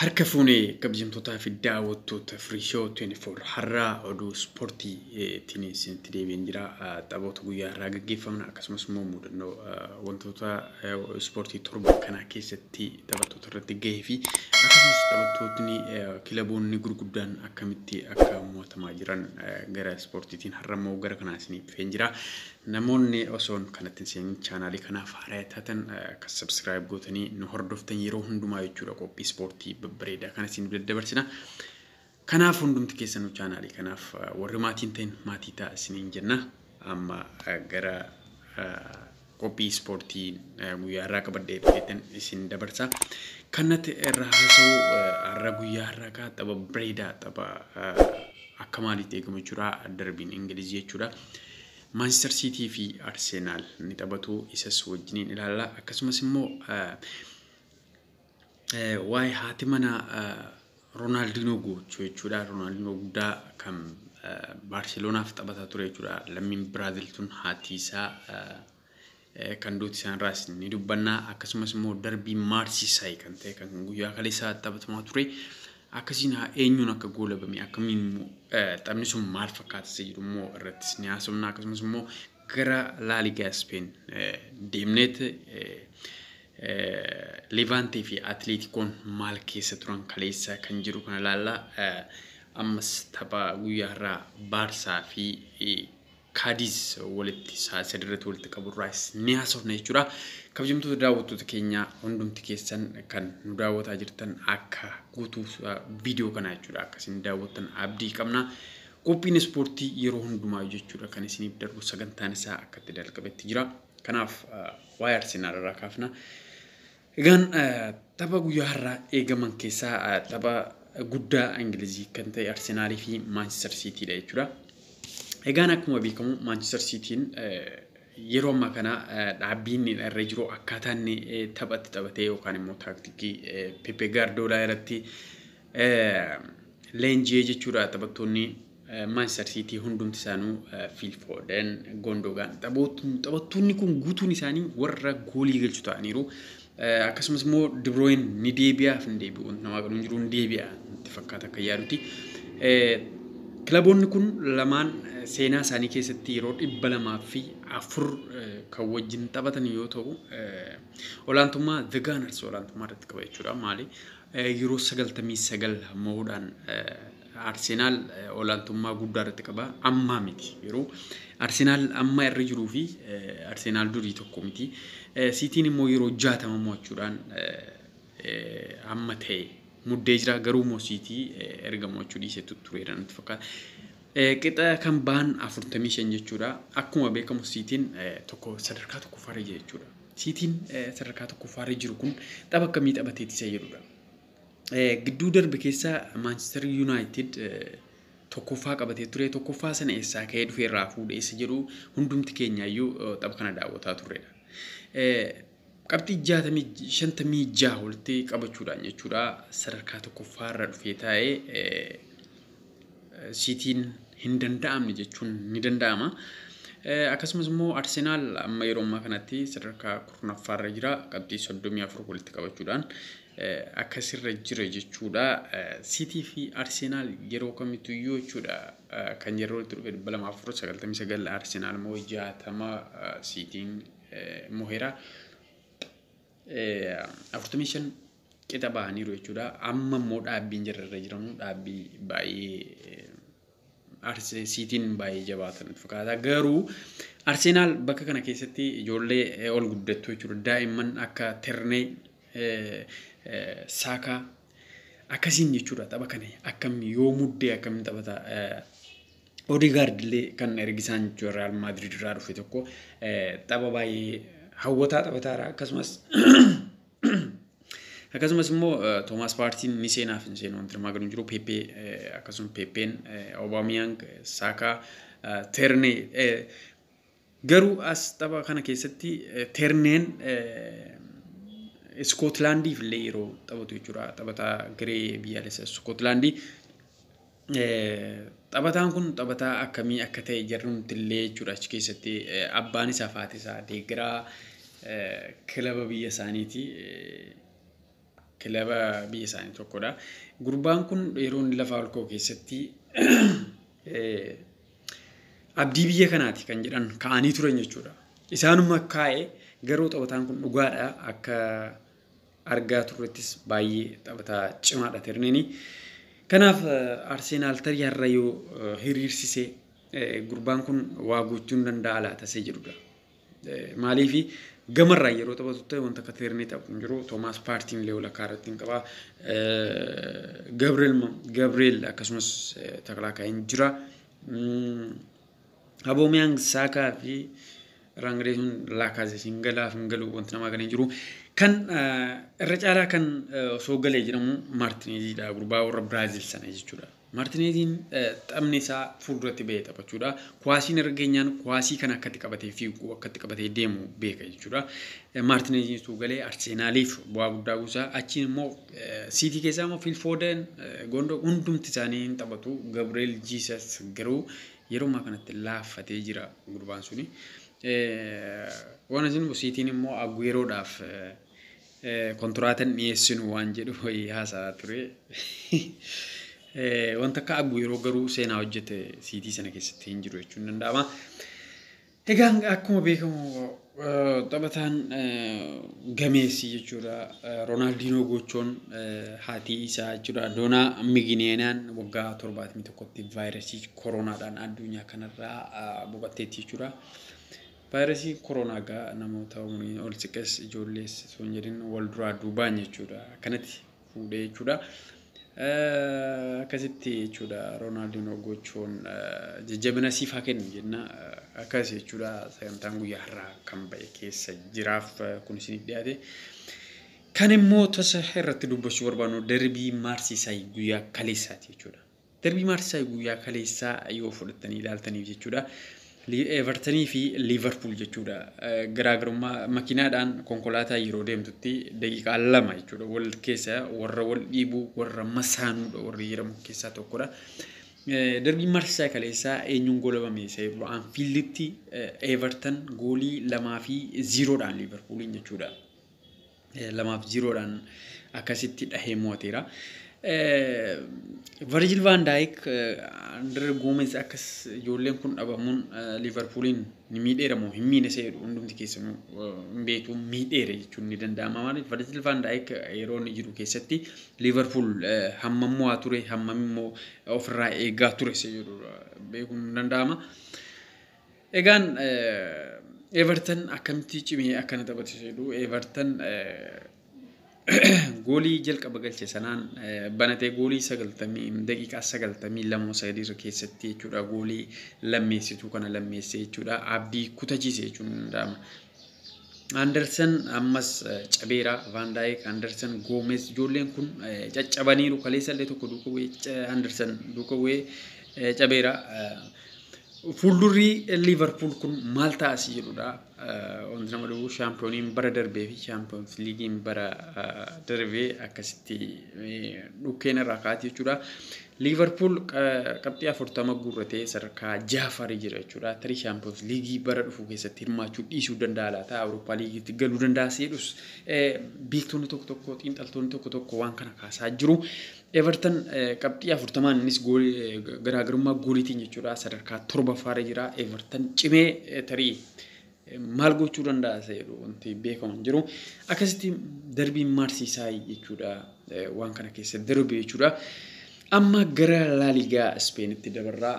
Harka fuune kabjamtootaa fi daawwattoota Free Show 24 har'aa oduu ispoortii tiin isinitti deebiin jira. Taphoota guyyaa har'aa gaggeeffaman akkasumas immoo mudannoo wantoota ispoortii torba kanaa keessatti taphattoota irratti gahee fi akkasumas taphattootni kilaboonni gurguddaan akkamitti akka mo'atamaa jiran gara ispoortiitiin har'a immoo gara kanaa isiniif dhufeen jira. Namoonni osoon kanatti hin seenin chaanaalii kanaaf haaraya taatan akka subscribe gootanii nu hordoftan yeroo hundumaa jechuudha qophii ispoortii babbareedaa kana isin daddabarsina. Kanaaf hundumti keessanuu chaanaalii kanaaf warri maatiin ta'in maatii ta'a isiniin jenna. Amma gara qophii ispoortii guyyaa irraa qabadhee dhufeetan isin dabarsa. Kannatti irraa haasa'u har'a guyyaa irraa kaa tapha bareedaa tapha akka maaliitti eegamu jechuudha darbiin Ingilizii jechuudha. Maanchistar Siitii fi Arsenaal ni taphatu. Isas wajjiniin ilaalla. Akkasumas immoo waa'ee haati manaa Roonaaldinoo gochuu jechuudha. Roonaaldinoo guddaa kan Baarseloonaaf taphataa ture jechuudha. Lammiin Biraazil tun haati isaa kan duuti isaanirraas ni dubbanna akkasumas immoo darbii maarsiisaay kan ta'e kan guyyaa kaleessaa taphatamaa ture akkasiin haa eenyuun akka goolabame akkamiin immoo taphni sun maal fakkaata isa jedhu immoo irrattis ni haasofna akkasumas immoo gara laaligaa ispeen deemneet leevaantee fi atileetikoon maal keessa turan kaleessa kan jiru kana ilaalla ammas tapha guyyaa irraa baarsaa fi Kaadiis walitti sa'aatii sadii irratti walitti qabu irraas ni haasofna jechuudha. Kabajamtoota daawwattoota keenya hundumti keessan kan nu daawwataa jirtan akka guutuu viidiyoo kanaa jechuudha akka isin daawwattan abdii qabna. Qophiin ispoortii yeroo hundumaa jechuudha kan isiniif darbu sagantaan isaa akka itti dalqabetti jira. Kanaaf waa'ee Arsenaal irraa kaafna. Egaan tapha guyyaa har'aa eegaman keessaa tapha guddaa Ingilizii kan ta'e Arsenaalii fi Maanchister Siitiidha jechuudha. Egaan akkuma beekamu Maanchister Siitiin yeroo ammaa kana dhaabbiin irra jiru akkaataa inni taphatti taphatee yookaan immoo taaktikii Pepe Gaardoolaa irratti leenji'ee jechuudha taphattoonni Manchester City hundumti isaanuu Phil Foden, Gundogan taphattoonni kun guutuun isaanii warra goolii galchu ta'aniiru. Akkasumas immoo De Bruyne ni deebi'aaf hin deebi'u namaa galuun jiru ni deebi'a itti fakkaata akka yaaduti. Kilaboonni kun lamaan seenaa isaanii keessatti yeroo dhibba lamaa fi afur kan wajjin taphatan yoo ta'u olaantummaa The Gunners olaantummaa irratti qaba jechuudha. Maali yeroo sagaltamii sagal mo'uudhaan Arsenaal olaantummaa guddaa irratti qaba. Ammaa miti yeroo Arsenaal amma irra jiruu fi Arsenaal durii tokko miti. Siitiin immoo yeroo jaatama mo'achuudhaan amma ta'e muddee jira. Garuu immoo siitii erga mo'achuu dhiisetu tureera natti fakkaata. Qixa kan ba'an afurtamii shan jechuudha. Akkuma beekamu siitiin tokko sadarkaa tokkoffaarra jira jechuudha. Siitiin sadarkaa tokkoffaarra jiru kun tapha akkamii taphateeti isa jedhudha. Gidduu darbe keessa Maanchistar Yuunaayitid tokkoffaa qabatee ture. Tokkoffaa sana eessaa ka'ee dhufee irraa fuudhe isa jedhu hundumti keenyaayyuu tapha kana daawwataa turredha. Qabxii jaatamii shantamii jaha walitti qabachuudhaan jechuudha sadarkaa tokkoffaa irra dhufee taa'ee siitiin hin danda'amne jechuun ni danda'ama. Akkasumas immoo Arsenaal amma yeroo ammaa kanatti sadarkaa kurnaffaa irra jira qabxii soddomii afur walitti qabachuudhaan. akkasirra jira jechuudha. Siitii fi Arsenaal yeroo kamittuu iyyuu jechuudha kan yeroo itti dhufe 299 Arsenaal immoo 60 siitiin moheera. 45 qixa bahaniiru jechuudha. Amma immoo dhaabbiin jirarra jiramu dhaabbii baay'ee Arseesiitiin baay'ee jabaata natti fakkaata. Garuu Arseenaal bakka kana keessatti ijoollee eh, ol guddattuu jechuudha. Daa'imman akka Ternee, eh, eh, Saakaa akkasiin jechuudha tapha kana akkam yoo muddee akkamiin taphata. eh, Odegaard illee kan ergisaan jechuudha Real Madrid irraa dhufe tokko eh, tapha baay'ee hawwataa taphataara akkasumas Akkasumas immoo Toomaas Paartiin ni seenaaf hin seenu wanti armaan gadii jiru Peepee akkasuma Peepeen Obaamiyang Saakaa Ternee garuu as tapha kana keessatti Terneen Iskootilaandiif illee yeroo taphatu jechuudha taphataa garee biyyaalessa Iskootilaandii Taphataan kun taphataa akkamii akka ta'e jarri nutillee jechuudha achi keessatti abbaan isaaf haati isaa deeggaraa kilaba biyya isaaniiti. Kilaba biyya isaanii tokkodha. Gurbaan kun yeroo inni lafaa ol ka'u keessatti abdii biyya kanaati kan jedhan ka'anii turan jechuudha. Isaanuma kaa'e garuu taphataan kun dhugaadha akka argaa turrettis baay'ee taphataa cimaadha Tirniini. Kanaaf Arseenaal tarii har'a yoo hiriirsise gurbaan kun waa gochuu hin danda'a laata isa jedhudha. Maaliif gamarraa yeroo taphatu ta'e wanta akka Tirnii taphu hin jiru. Toomaas Paartiin illee walakkaa irratti hin qaba. Gabriel akkasumas taklaa ka'een jira. Aboomeyang Saakaa fi Raangree sun Laakaazees hin galaaf hin galu wanti namaa galee jiru. Kan irra caalaa kan osoo galee jedhamu Maartineeziidha gurbaa warra Biraazil sana jechuudha. Maartineeziin taphni isaa fuulduratti bahee taphachuudha. Kuwaasiin irra geenyaan kuwaasii kana akkatti qabatee fiigu akkatti qabatee deemu beeka jechuudha. Maartineeziin utuu galee Arseenaaliif bu'aa guddaa buusa. Achiin immoo Siitii keessaa immoo Fiil Foodeen Gondoo hundumti isaanii hin taphatu. Gabriel Jiisas garuu Yeroo ammaa kanatti laaffatee jira gurbaan suni. Waan isin busiitiin immoo Agueroodhaaf kontiraatan dhiyeessinu waan jedhu wayii haasa'aa ture. Wanta akka Aguero garuu seenaa hojjete siitii sana keessatti hin jiru jechuun danda'ama. Egaa akkuma beekamu taphataan gameessi jechuudha Roonaaldinoo Goochoon haatii isaa jechuudha Doonaa Migineenaan waggaa torbaatamii tokkotti vaayirasii koroonaadhaan addunyaa kanarraa boqatteetti jechuudha. Vaayirasii koroonaa egaa namoota umriin ol siqes ijoollees osoo hin jedhin wal duraa duubaan jechuudha. Kanatti fuudhee jechuudha. Akkasitti jechuudha Roonaaldinoo gochuun jajjabina siif haa kennu jenna. Akkas jechuudha sagantaan guyyaa har'aa kan ba'e keessa jiraaf kun isiniif dhiyaate. Kan immoo tasa irratti dubbachuu barbaannu darbii maarsiisaay guyyaa kaleessaati jechuudha. Darbii Maarsisaay guyyaa kaleessaa yoo fudhattanii ilaaltaniif jechuudha. Evertanii fi Liivarpuul jechuudha. Garaagarummaa makiinaadhaan konkolaataa yeroo deemtutti daqiiqaa lama jechuudha. Wal keessa warra wal dhiibuu warra masaanuudha warri jedhamu keessaa tokkodha. Darbii Maarsisaay kaleessaa eenyuun goolabame isa jedhu Anfiilditti Evertan goolii lamaa fi ziiroodhaan Liivarpuuliin jechuudha. lamaaf ziiroodhaan akkasitti dhahee mo'ateera. Virgil van Dijk, André Gomez akkas ijoolleen kun dhabamuun Liverpooliin ni miidheera moo hin miine isa jedhu hundumti keessanuu hin beektu miidheera jechuun ni danda'ama. Maaliif Virgil van Dijk yeroo inni jiru keessatti Liverpool hammam mo'aa ture hammam immoo ofirraa eegaa ture isa jedhu beekuun ni danda'ama. Egaan Everton akkamitti cimee akkana taphatu jedhu Everton goolii jalqaba galche sanaan banatee goolii sagaltamii daqiiqaa sagaltamii lamoo sadii irra keessatti jechuudha goolii lammeessituu kana lammeessee jechuudha abdii kutachiise jechuun ni danda'ama. Andersen ammas cabeera Van Dijk, Andersen Goomes ijoolleen kun caccabaniiru kaleessa illee tokko duuka bu'ee Andersen duuka bu'ee cabeera. Fuuldurri Liivarpuul kun maal ta'a si jedhudha. Wanti nama dhufu shaampiyooniin bara darbee fi shaampiyoons liigiin bara darbee akkasitti dhukkeen irraa kaa'ati jechuudha. Liivarpuul qabxii 40 guurratee sadarkaa 6ffaa irra jira jechuudha. Tarii Shaampiyoons Liigii bara dhufu keessatti hirmaachuu dhiisuu danda'a laata? Awurooppaa Liigiitti galuu danda'a seedhus beektonni tokko tokko xiinxaltoonni tokko tokko waan kana kaasaa jiru. Everton qabxii 40 innis garaagarummaa gooliitiin jechuudha sadarkaa 7ffaa irra jira. Everton cimee tarii maal gochuu danda'a isa jedhu wanti beekamu hin jiru. Akkasitti darbiin maarsiisaa jechuudha waan kana keessa darbe jechuudha. Amma gara laaligaa Ispeenitti dabarraa.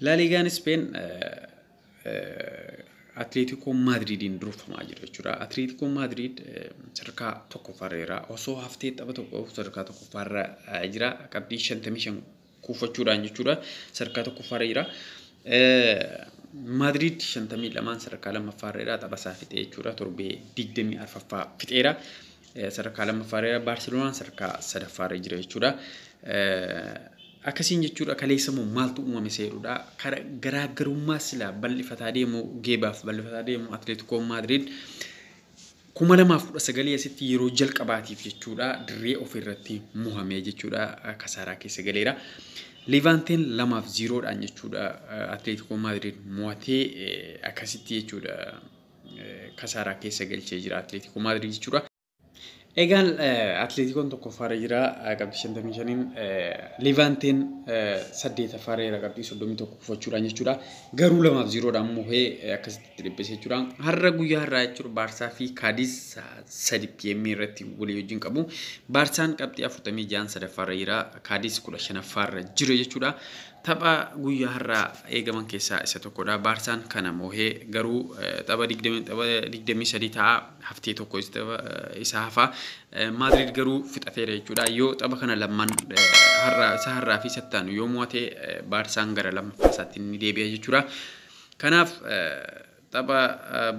Laaligaan Ispeen Atleetikoo Maadriidiin durfamaa jira jechuudha. Atleetikoo Maadriid sadarkaa tokkoffaarra jira. Osoo haftee tapha tokko sadarkaa tokkoffaarra jira. Qabxii shantamii shan kuuffachuudhaan jechuudha sadarkaa tokkoffaarra jira. Maadriid 52 sadarkaa lammaffaarra jira taphasaa fixee jechuudha torbee 24ffaa fixeera. Sadarkaa lammaffaarra jira Baarseloonaan sadarkaa sadaffaarra jira jechuudha. Akkasiin jechuudha kaleessa immoo maaltu uumame seerudha. Garaagarummaa silaa bal'ifataa deemu geebaaf bal'ifataa deemu Atleetikoon Maadriid 2019 asitti yeroo jalqabaatiif jechuudha dirree ofii irratti muhamee jechuudha kasaaraa keessa galeera. Leevaanteen lamaaf ziiroodhaan jechuudha Atleetikoo Maadriid mo'atee akkasitti jechuudha kasaaraa keessa galchee jira Atleetikoo Maadriid jechuudha. Egaan Atleetikoon tokkoffaarra jira qabxii 55n Leevaanteen saddeetaffaarra jira qabxii 31 kufachuudhaan jechuudha. Garuu lamaaf ziiroodhaan moohee akkasitti itti dhiphise jechuudha. Har'a guyyaa har'aa jechuudha Baarsaa fi Kaadiis 3 pm irratti walii wajjin qabu. Baarsaan qabxii 46n sadaffaarra jira Kaadiis 15ffaarra jira jechuudha. Tapha guyyaa har'aa eegaman keessaa isa tokkodha. Baarsaan kana moohee garuu tapha 23 ta'a haftee tokko isa hafa. Maadriid garuu fixateera jechuudha. Yoo tapha kana lamman har'a isa har'aa fi sattaanu yoo mo'ate Baarsaan gara lammaffaa isaatti ni deebi'a jechuudha. Kanaaf tapha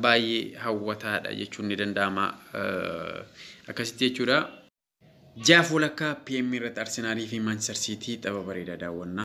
baay'ee hawwataadha jechuun ni danda'ama. Akkasitti jechuudha. Jaaf walakkaa PM irratti Arsenaalii fi Manchester City tapha bareedaa daawwanna.